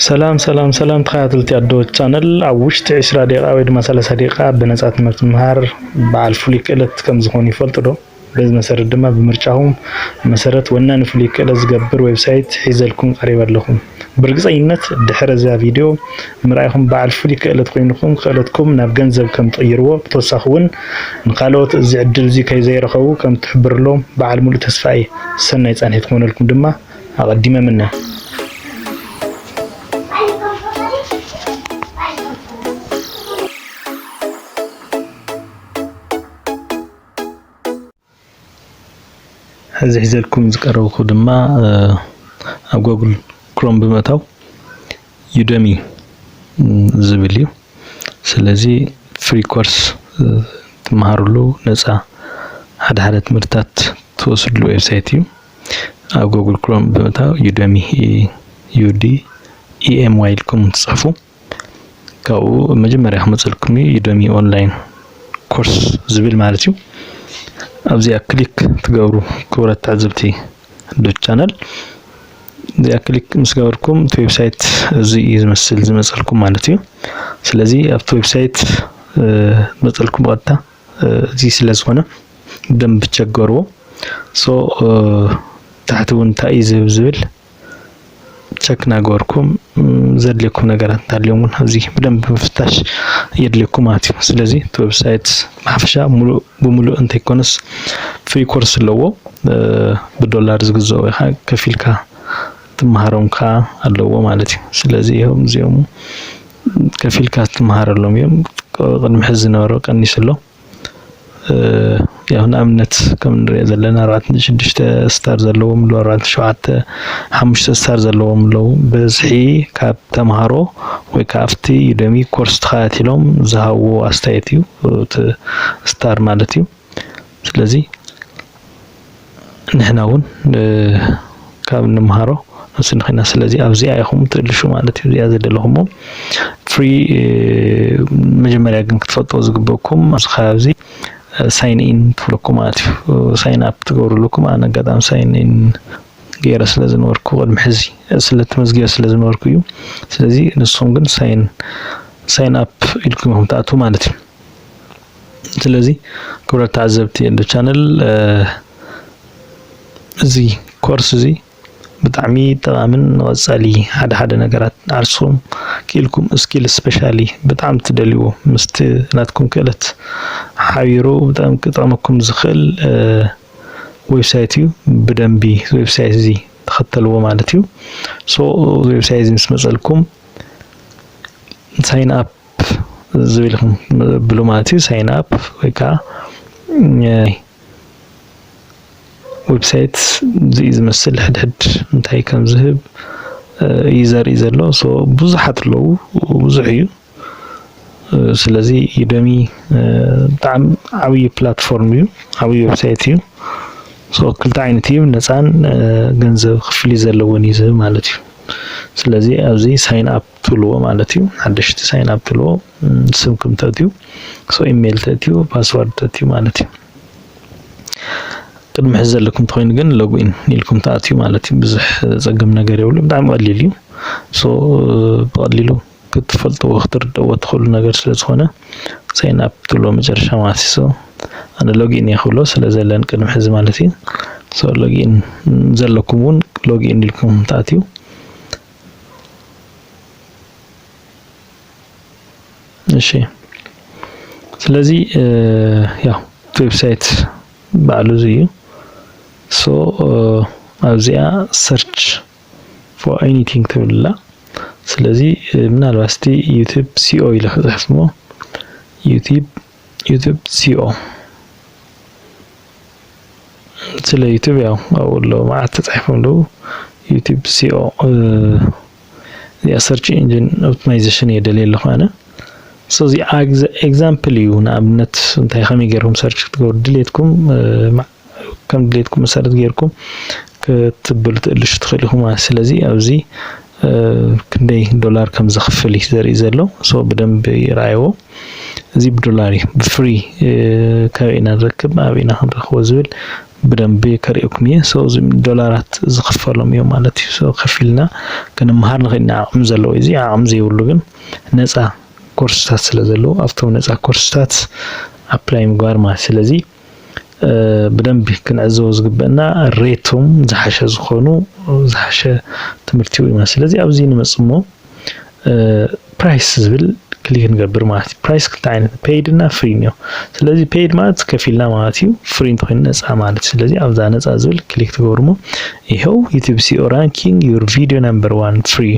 ሰላም ሰላም ሰላም ተኸታተልቲ ኣዶ ቻነል ኣብ ውሽጢ 20 ደቂቃ ወይ ድማ 30 ደቂቃ ብነፃ ትምህርቲ ምምሃር በዓል ፍሉይ ክእለት ከም ዝኾኑ ይፈልጡ ዶ? በዚ መሰረት ድማ ብምርጫኹም መሰረት ወናኒ ፍሉይ ክእለት ዝገብር ዌብሳይት ሒዘልኩም ቀሪበ ኣለኹ። ብርግፀኝነት ድሕሪ እዛ ቪድዮ ምርኣይኹም በዓል ፍሉይ ክእለት ኮይንኩም ክእለትኩም ናብ ገንዘብ ከም ትቕይርዎ ብተወሳኺ እውን ንካልኦት እዚ ዕድል እዚ ከይዘይረኸቡ ከም ትሕብርሎም በዓል ሙሉእ ተስፋ እየ። ሰናይ ፃንሒት ክኾነልኩም ድማ ኣቐዲመ ምነ ሕዚ ሒዘልኩም ዝቀረብኩ ድማ ኣብ ጎግል ክሮም ብምእታው ዩደሚ ዝብል እዩ። ስለዚ ፍሪ ኮርስ ትመሃርሉ ነፃ ሓደ ሓደ ትምህርትታት ትወስድሉ ዌብሳይት እዩ። ኣብ ጎግል ክሮም ብምእታው ዩደሚ ዩዲ ኢኤምዋይ ኢልኩም ትፅሕፉ ካብኡ መጀመርያ ክመፅልኩም እዩ ዩደሚ ኦንላይን ኮርስ ዝብል ማለት እዩ ኣብዚኣ ክሊክ ትገብሩ ክብረት ትዕዝብቲ ዶ ቻነል እዚኣ ክሊክ ምስ ገበርኩም እቲ ዌብሳይት እዚ እዩ ዝመስል ዝመፀልኩም ማለት እዩ ስለዚ ኣብቲ ዌብሳይት መፀልኩም ብቐጥታ እዚ ስለ ዝኾነ ደንብ ቸገርዎ ሶ ታሕቲ እውን እንታይ እዩ ዝህብ ዝብል ቸክ ናገበርኩም ዘድልየኩም ነገራት እንተሃልዮም እውን ኣብዚ ብደንብ ምፍታሽ የድልየኩም ማለት እዩ ስለዚ እቲ ዌብሳይት ብሓፈሻ ሙሉእ ብሙሉእ እንተይኮነስ ፍሪ ኮርስ ኣለዎ ብዶላር ዝግዘኡ ኢኻ ከፊልካ ትመሃሮም ከዓ ኣለዎ ማለት እዩ ስለዚ እዮም እዚኦም ከፊልካ ትመሃረሎም እዮም ቅድሚ ሕዚ ዝነበሮ ቀኒሱ ኣሎ ያው ንኣብነት ከም ንሪኦ ዘለና ኣርባዕተ ነጥቢ ሽዱሽተ ስታር ዘለዎም ኣለዉ ኣርባዕተ ነጥቢ ሸውዓተ ሓሙሽተ ስታር ዘለዎም ኣለዉ ብዝሒ ካብ ተምሃሮ ወይ ከዓ ኣብቲ ዩደሚ ኮርስ ተኸታቲሎም ዝሃብዎ ኣስተያየት እዩ እቲ ስታር ማለት እዩ። ስለዚ ንሕና እውን ካብ እንምሃሮ ንሱ ንክና ስለዚ ኣብዚኣ ኢኹም ትእልሹ ማለት እዩ እዚኣ ዘደለኹሞ ፍሪ መጀመርያ ግን ክትፈልጦ ዝግበኩም ኣብዚ ከባቢዚ ሳይን ኢን ትብለኩ ማለት እዩ ሳይን ኣፕ ትገብርልኩም ኣነ ኣጋጣሚ ሳይን ኢን ገይረ ስለ ዝነበርኩ ቅድሚ ሕዚ ስለ ተመዝጊበ ስለ ዝነበርኩ እዩ ስለዚ ንስኹም ግን ሳይን ሳይን ኣፕ ኢልኩም ኢኹም ትኣትዉ ማለት እዩ ስለዚ ክብረት ተዓዘብቲ ኤንዶ ቻነል እዚ ኮርስ እዚ ብጣዕሚ ጠቓምን ንቐጻሊ ሓደ ሓደ ነገራት ዓርስኹም ክኢልኩም ስኪል ስፔሻሊ ብጣዕሚ ትደልይዎ ምስቲ ናትኩም ክእለት ሓቢሩ ብጣዕሚ ክጠቕመኩም ዝኽእል ዌብሳይት እዩ ብደንቢ ዌብሳይት እዚ ተኸተልዎ ማለት እዩ ሶ ዌብሳይት እዚ ምስ መጸልኩም ሳይን ኣፕ ዝብል ኢኹም ብሉ ማለት እዩ ሳይን ኣፕ ወይ ከዓ ዌብሳይት ዝዩ ዝመስል ሕድሕድ እንታይ ከም ዝህብ እዩ ዘርኢ ዘሎ ሶ ብዙሓት ኣለዉ ብዙሕ እዩ ስለዚ ዩደሚ ብጣዕሚ ዓብዪ ፕላትፎርም እዩ ዓብዪ ዌብሳይት እዩ ሶ ክልተ ዓይነት እዩ ነፃን ገንዘብ ክፍሊ ዘለዎን እዩ ዝህብ ማለት እዩ ስለዚ ኣብዚ ሳይን ኣፕ ትብልዎ ማለት እዩ ሓደሽቲ ሳይን ኣብ ትብልዎ ስምኩም ተእትዩ ሶ ኢሜይል ተእትዩ ፓስዋርድ ተእትዩ ማለት እዩ ቅድሚ ሕዚ ዘለኩም ተኮይኑ ግን ሎግኢን ኢልኩም ተኣትዩ ማለት እዩ ብዙሕ ዘፀግም ነገር የብሉ ብጣዕሚ ቀሊል እዩ ሶ ብቀሊሉ ክትፈልጥዎ ክትርደዎ ትኽእሉ ነገር ስለ ዝኾነ ሳይን ኣፕ ትብሎ መጨረሻ ማለት እዩ ሶ ኣነ ሎግኢን እየ ክብሎ ስለ ዘለን ቅድሚ ሕዚ ማለት እዩ ሶ ሎግኢን ዘለኩም እውን ሎግኢን ኢልኩም ተኣትዩ እሺ ስለዚ ያው እቲ ዌብሳይት ባዕሉ እዚ እዩ ሶ ኣብዚኣ ሰርች ፎር ኤኒቲንግ ትብልላ ስለዚ ምናልባት ስቲ ዩቲብ ሲኦ ኢለ ክፅሕፍ ሞ ዩቲብ ዩቱብ ሲኦ ስለ ዩቱብ ያው ኣብኡ ኣለዉ መዓት ተጻሒፎም ኣለዉ ዩቱብ ሲኦ እዚኣ ሰርች ኢንጂን ኦፕቲማይዜሽን እየ ደልየ ኣለኹ ኣነ ሶ እዚ ኤግዛምፕል እዩ ንኣብነት እንታይ ከመይ ገይርኩም ሰርች ክትገብሩ ድሌትኩም ከም ድሌትኩም መሰረት ጌርኩም ክትብሉ ትእልሹ ትኽእል ኢኹም ማለት ስለዚ ኣብዚ ክንደይ ዶላር ከም ዘኽፍል እዩ ዘርኢ ዘሎ ሶ ብደንብ ይርኣይዎ እዚ ብዶላር እዩ ብፍሪ ከበይ ኢና ንረክብ ኣብ ኢና ክንረክቦ ዝብል ብደንብ ከርእየኩም እየ ሶ እዚ ዶላራት ዝኽፈሎም እዮም ማለት እዩ ሶ ከፊልና ክንመሃር ንኽእል ኢና ዓቕሚ ዘለዎ እዚ ዓቕሚ ዘይብሉ ግን ነፃ ኮርስታት ስለ ዘለዎ ኣብቶም ነፃ ኮርስታት ኣፕላይ ምግባር ማለት ስለዚ ብደንቢ ክንዕዘቦ ዝግበአና ሬቶም ዝሓሸ ዝኾኑ ዝሓሸ ትምህርቲ እዩ ማለት ስለዚ ኣብዚ ንመፅእ እሞ ፕራይስ ዝብል ክሊክ ንገብር ማለት እዩ ፕራይስ ክልተ ዓይነት ፔይድ እና ፍሪ እኒኦ ስለዚ ፔይድ ማለት ከፊልና ማለት እዩ ፍሪ እንተኮይኑ ነፃ ማለት እዩ ስለዚ ኣብዛ ነፃ ዝብል ክሊክ ትገብሩ እሞ ይኸው ዩቲብ ሲኦ ራንኪንግ ዩር ቪዲዮ ነምበር ዋን ፍሪ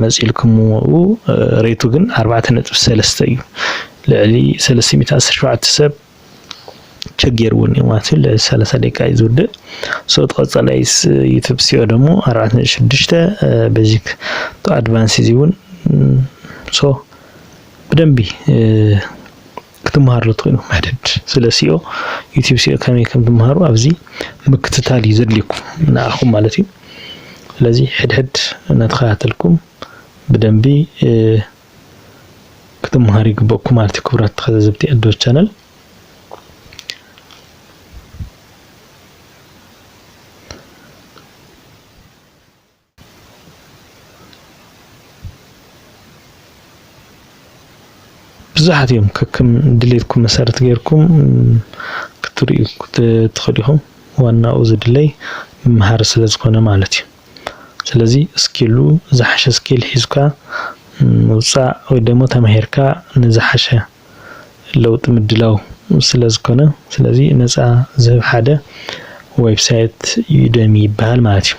መፂልኩም ሬቱ ግን ኣርባዕተ ነጥቢ ሰለስተ እዩ ልዕሊ ሰለስተ ሚእቲ ዓሰርተ ሸውዓተ ሰብ ቸጌር እውን እዩ ማለት እዩ ልዕሊ ሰላሳ ደቂቃ እዩ ዝውድእ ሶ ቀፃላይ ዩቱብ ሲኦ ደግሞ ኣርባዕተ ነጥቢ ሽዱሽተ ቤዚክ ቱ ኣድቫንስ እዚ እውን ሶ ብደንቢ ክትመሃርሉ ትኽእሉ መደድ ስለ ሲኦ ዩቲብ ሲኦ ከመይ ከም ትመሃሩ ኣብዚ ምክትታል እዩ ዘድልየኩም ንኣኹም ማለት እዩ ስለዚ ሕድሕድ እናተኸታተልኩም ብደንቢ ክትምሃሩ ይግበኩም ማለት እዩ ክብራት ተከዘዘብቲ ኣዶ ቻነል ብዙሓት እዮም ከክም ድሌትኩም መሰረት ጌርኩም ክትሪኡ ክትኸዱ ኢኹም ዋናኡ ዝድለይ ምምሃር ስለ ዝኾነ ማለት እዩ ስለዚ ስኪሉ ዝሓሸ ስኪል ሒዝካ ምውጻእ ወይ ደሞ ተማሂርካ ንዝሓሸ ለውጢ ምድላው ስለ ዝኮነ ስለዚ ነጻ ዝህብ ሓደ ዌብሳይት ዩደሚ ይበሃል ማለት እዩ።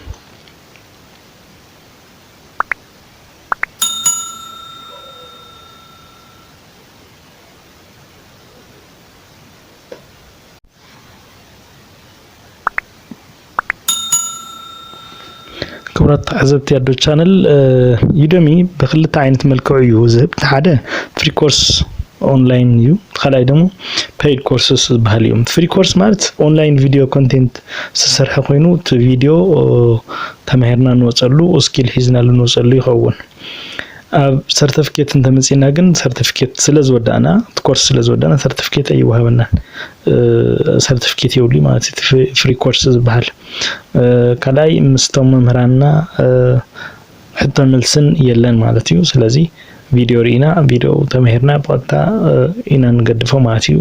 ክብራት ተዓዘብቲ ኣዶ ቻነል ዩደሚ ብክልተ ዓይነት መልክዑ እዩ ዝህብ እቲ ሓደ ፍሪ ኮርስ ኦንላይን እዩ ካልኣይ ደግሞ ፔይድ ኮርስስ ዝበሃል እዩ ፍሪ ኮርስ ማለት ኦንላይን ቪድዮ ኮንቴንት ዝሰርሐ ኮይኑ እቲ ቪድዮ ተማሂርና ንወፀሉ ስኪል ሒዝናሉ ንወፀሉ ይኸውን ኣብ ሰርተፍኬት እንተመፂእና ግን ሰርተፍኬት ስለዝወዳእና እቲ ኮርስ ስለዝወዳእና ሰርተፍኬት ኣይወሃበናን ሰርተፍኬት የብሉይ ማለት እቲ ፍሪ ኮርስ ዝበሃል ካልኣይ ምስቶም መምህራንና ሕቶ መልስን የለን ማለት እዩ ስለዚ ቪድዮ ርኢና ቪድዮ ተመሂርና ብቐጥታ ኢና ንገድፎ ማለት እዩ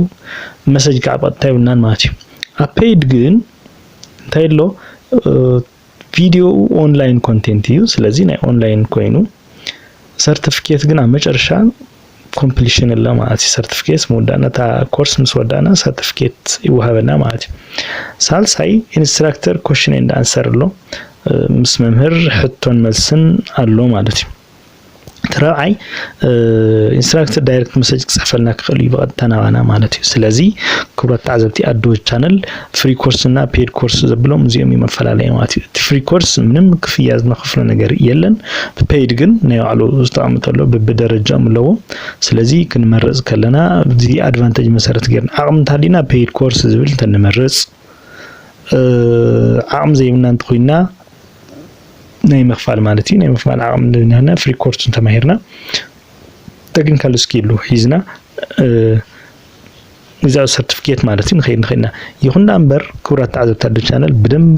መሰጅ ከዓ ብቐጥታ የብልናን ማለት እዩ ኣብ ፔይድ ግን እንታይ ኣሎ ቪድዮኡ ኦንላይን ኮንቴንት እዩ። ስለዚ ናይ ኦንላይን ኮይኑ ሰርቲፊኬት ግን ኣብ መጨረሻ ኮምፕሊሽን ኣሎ ማለት እዩ። ሰርቲፊኬት ምውዳእና እታ ኮርስ ምስ ወዳእና ሰርቲፊኬት ይወሃበና ማለት እዩ። ሳልሳይ ኢንስትራክተር ኮሽን ኤንድ ኣንሰር ኣሎ ምስ መምህር ሕቶን መልስን ኣሎ ማለት እዩ። እቲ ራብዓይ ኢንስትራክተር ዳይሬክት መሰጅ ክፅሕፈልና ክኽእል እዩ ብቐጥታ ናባና ማለት እዩ ስለዚ ክብራት ተዓዘብቲ ኣዶ ቻነል ፍሪ ኮርስ እና ፔድ ኮርስ ዘብሎም እዚኦም እዩ መፈላለየ ማለት እዩ እቲ ፍሪ ኮርስ ምንም ክፍያ ዝነኸፍሎ ነገር የለን ብፔድ ግን ናይ ባዕሉ ዝተቐምጠሎ ብብደረጃኦም ኣለዎ ስለዚ ክንመርፅ ከለና እዚ ኣድቫንቴጅ መሰረት ገርና ዓቕሚ እንተሃሊና ፔድ ኮርስ ዝብል እንተንመርፅ ዓቕሚ ዘይብልና እንተኮይንና ናይ ምኽፋል ማለት እዩ ናይ ምኽፋል ዓቕሚ እንድናሃና ፍሪ ኮርስ እንተማሂርና ተክኒካል ስኪሉ ሒዝና እዚኣ ሰርቲፊኬት ማለት እዩ ንኸይድ ንኽእልና ይኹን ዳ እምበር ክብራት ተዓዘብቲ ኣዶ ቻነል ብደንቢ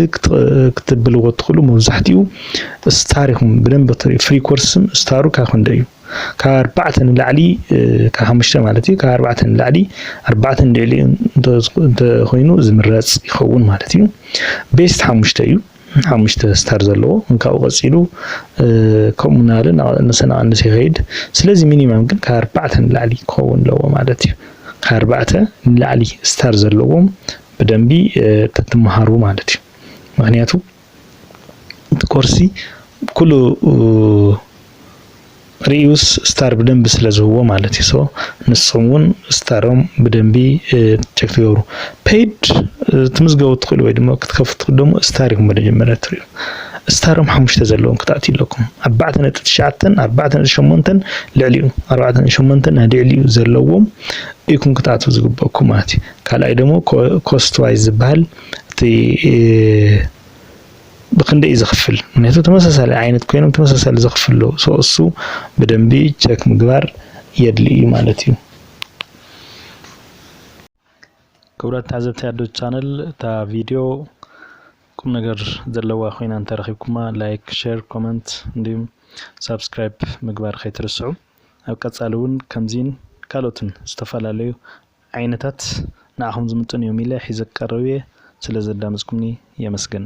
ክትብልዎ እትኽእሉ መብዛሕትኡ ስታር ኢኹም ብደንቢ ፍሪ ኮርስም ስታሩ ካብ ክንደ እዩ ካብ ኣርባዕተ ንላዕሊ ካብ ሓሙሽተ ማለት እዩ ካብ ኣርባዕተ ንላዕሊ ኣርባዕተን ልዕሊኡ እንተኮይኑ ዝምረፅ ይኸውን ማለት እዩ ቤስት ሓሙሽተ እዩ ሓሙሽተ ስታር ዘለዎ ካብኡ ቀፂሉ ከምኡ ናለ ንሰናቐንስ ይኸይድ ስለዚ ሚኒማም ግን ካብ ኣርባዕተ ንላዕሊ ክኸውን ኣለዎ ማለት እዩ ካብ ኣርባዕተ ንላዕሊ ስታር ዘለዎም ብደንቢ ተትመሃሩ ማለት እዩ ምክንያቱ ኮርሲ ኩሉ ሪዩስ ስታር ብደንቢ ስለ ዝህዎ ማለት እዩ። ሶ ንስኹም እውን ስታሮም ብደንቢ ቸክ ትገብሩ ፔድ ትምዝገቡ ትኽእሉ ወይ ድማ ክትከፍቱ ደሞ ስታር ኢኹም መጀመርያ ትሪኡ ስታሮም ሓሙሽተ ዘለዎም ክትኣትዩ ኣለኩም ኣርባዕተ ነጥቢ ትሽዓተን ኣርባዕተ ነጥቢ ሸሞንተን ልዕሊኡ ኣርባዕተ ነጥቢ ሸሞንተን ልዕሊኡ ዘለዎም ኢኩም ክትኣትዉ ዝግበኩም ማለት እዩ። ካልኣይ ደሞ ኮስት ዋይዝ ዝበሃል እቲ ብክንደይ እዩ ዝኽፍል ምክንያቱ ተመሳሳሊ ዓይነት ኮይኖም ተመሳሳሊ ዘኽፍሉ ሶ እሱ ብደንቢ ቸክ ምግባር የድሊ እዩ ማለት እዩ። ክብረት ታዘብቲ ኣዶ ቻነል እታ ቪድዮ ቁም ነገር ዘለዋ ኮይና እንተረኺብኩማ ላይክ፣ ሼር፣ ኮመንት እንዲሁም ሳብስክራይብ ምግባር ከይትርስዑ። ኣብ ቀጻሊ እውን ከምዚን ካልኦትን ዝተፈላለዩ ዓይነታት ንዓኹም ዝምጥን እዮም ኢለ ሒዘ ክቀርብ እየ ስለ ዘዳመጽኩምኒ የመስግን።